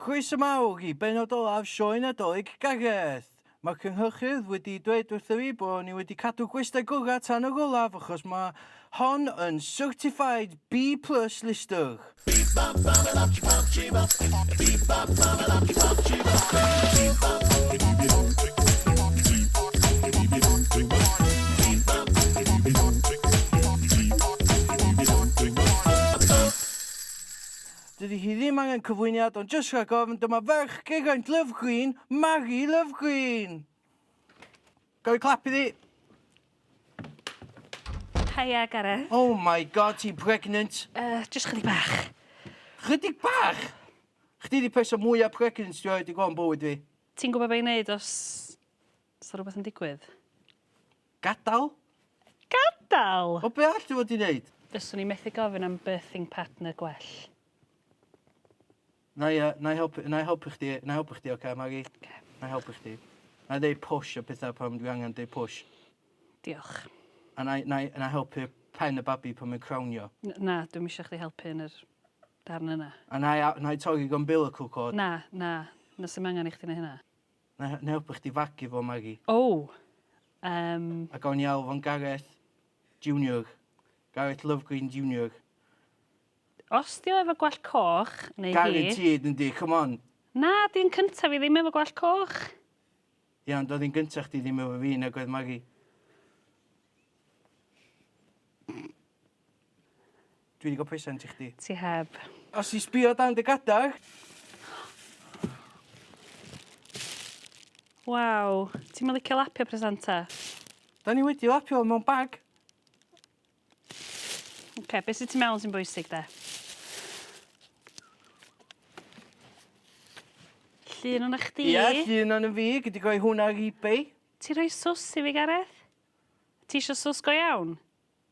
Croeso mawr i bennod olaf Sioe Nadolig Gareth! Mae'r cynhyrchydd wedi dweud wrtho fi bod ni wedi cadw gwestai gorau tan yr olaf achos mae hon yn Certified B plus listwr! Dydy hi ddim angen cyflwyniad ond jyst rhag ofn dyma ferch Geraint Lovegreen, Mari Lovegreen! Gawn clap iddi. Hiya, Gareth. Oh my god, ti'n pregnant? Uh, just chydig bach. Chydig bach? Chdi di person mwyaf pregnant dwi wedi gweld yn bywyd fi. Ti'n gwybod beth i'n neud os 'Sa rwbeth yn digwydd? Gadal? Gadal! Wel be' arall ti fod i neud? Fyswn i methu gofyn am birthing partner gwell. 'Nai yy 'nai helpu 'nai helpu chdi 'nai helpu chdi oce Mari? Oce. 'Nai helpu chdi. 'Nai ddeu push a petha pan dwi angan deu push. Diolch. A 'nai 'nai 'nai helpu pen y babi pan mae'n crawnio. N- na dwi'm isio chdi helpu yn yr darn yna. A 'nai a- 'nai torri'r umbilical cord. Na na 'na sim angan i chdi neu' hynna. Nai na helpu chdi fagu fo Mari. O! Yym. A gawn ni alw fo'n Gareth Junior. Gareth Lovegreen Junior. Os di o efo gwallt coch, neu hi... Guaranteed yndi, come on! Na, di yn cyntaf i ddim efo gwallt coch. Ia, ond oedd hi'n gyntaf chdi ddim efo fi nag oedd Mari. Dwi 'di ga'l presant i chdi. Ti heb. Os ti sbïo dan dy gadag. Waw, ti'm yn licio lapio presanta? 'Dan ni wedi lapio fo mewn bag. Oce, be' sy tu mewn sy'n bwysig 'de? Llun ona chdi. Ia, llun ono fi, gei di roi hwn ar Ebay. Ti rhoi sws i fi Gareth? Ti isio sws go iawn?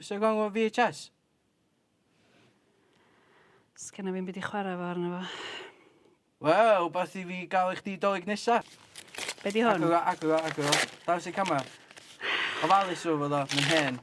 Oes 'na gong efo VHS? Sgenna fi'm byd i chwarae efo arno fo. Wel, wbath i fi ga'l i chdi Dolig nesa. Be' 'di hwn? Agor o, agor o, agor o. Dangos i'r camera. Ofalus efo fo ddo, mae'n hen.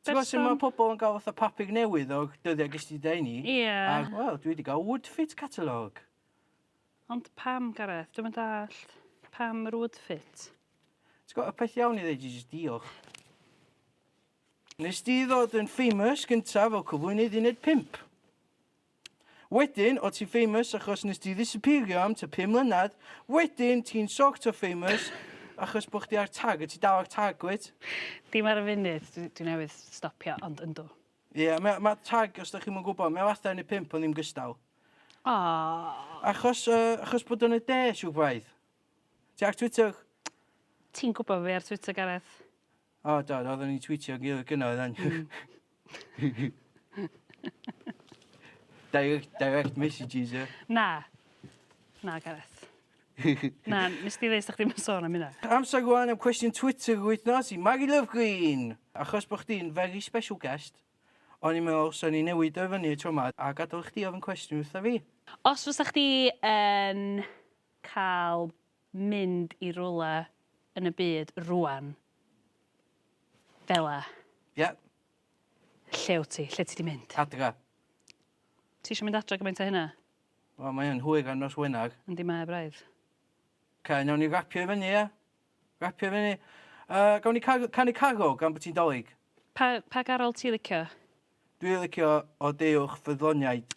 Ti'n gwybod sut mae pobl yn cael fatha papur newydd o'r dyddiau ges ti dau ni? Ie. A, wel, dwi wedi cael Woodfit catalogue. Ond pam, Gareth? Dwi'n mynd allt. Pam yr Woodfit? Ti'n gwybod, y peth iawn i ddeud i jyst diolch. Nes di ddod yn famous gyntaf fel cyflwynydd uned 5. Wedyn, o ti'n famous achos nes di ddisapîrio am t'a pum mlynedd, wedyn ti'n sort of famous achos bo chdi ar tag, a ti dal ar tag wyt? Dim ar y funud, dwi dwi newydd stopio ond yndw. Ie ma' ma' tag os da chi'm yn gwbo mae o fatha yn y pump ond ddim gystal. Aww. Achos yy achos bod o'n y de siŵr braidd. Ti ar Twitter? Ti'n gwbo fi ar Twitter Gareth. O do do odden ni'n twîtio gin 'i gynna oeddan. Hmm. Direct direct messages ie? Na. Na Gareth. Na nes di ddeud 'sdach chdi'm yn sôn am hynna. Amser rwan am cwestiwn Twitter yr wythnos i Mari Love Green! Achos bo' chdi'n very special guest o'n i'n meddwl swn i'n newid o i fyny y tro 'ma a gadal i chdi ofyn cwestiwn wrtha fi. Os fysa chdi yn ca'l mynd i rywle yn y byd rŵan fela. Ie. Lle wt ti? Lle ti 'di mynd? Adra. Ti isio mynd adra gymaint â hynna? Wel mae yn hwyr ar nos Wener. Yndi mae braidd. Ca, nawn ni rapio i fyny ia? Rapio i fyny. Uh, gawn ni car canu cargo gan bod ti'n dolyg? Pa, pa garol ti licio? Dwi licio o deuwch ffyddloniaid.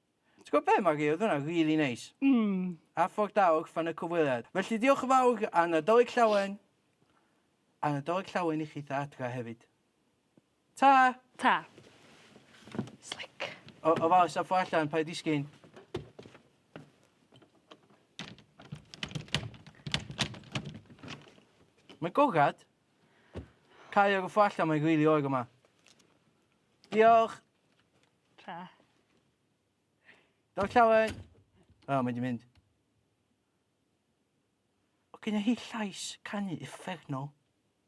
Ti'n gwybod be Mari, oedd hwnna rili neis. Mm. A ffordd da o orffen y cyfweliad. Felly diolch yn fawr a Nadolig Llawen. A Nadolig Llawen i chi ta adra hefyd. Ta! Ta. Slick. O, o fawr, sa ffordd allan, paid disgyn. Mae'n gogad. Cael ar y ffordd allan, mae'n rili oer yma. Diolch! Ta. Daw llawen. O, oh, mae di mynd. O, gyda hi llais canu effeithnol.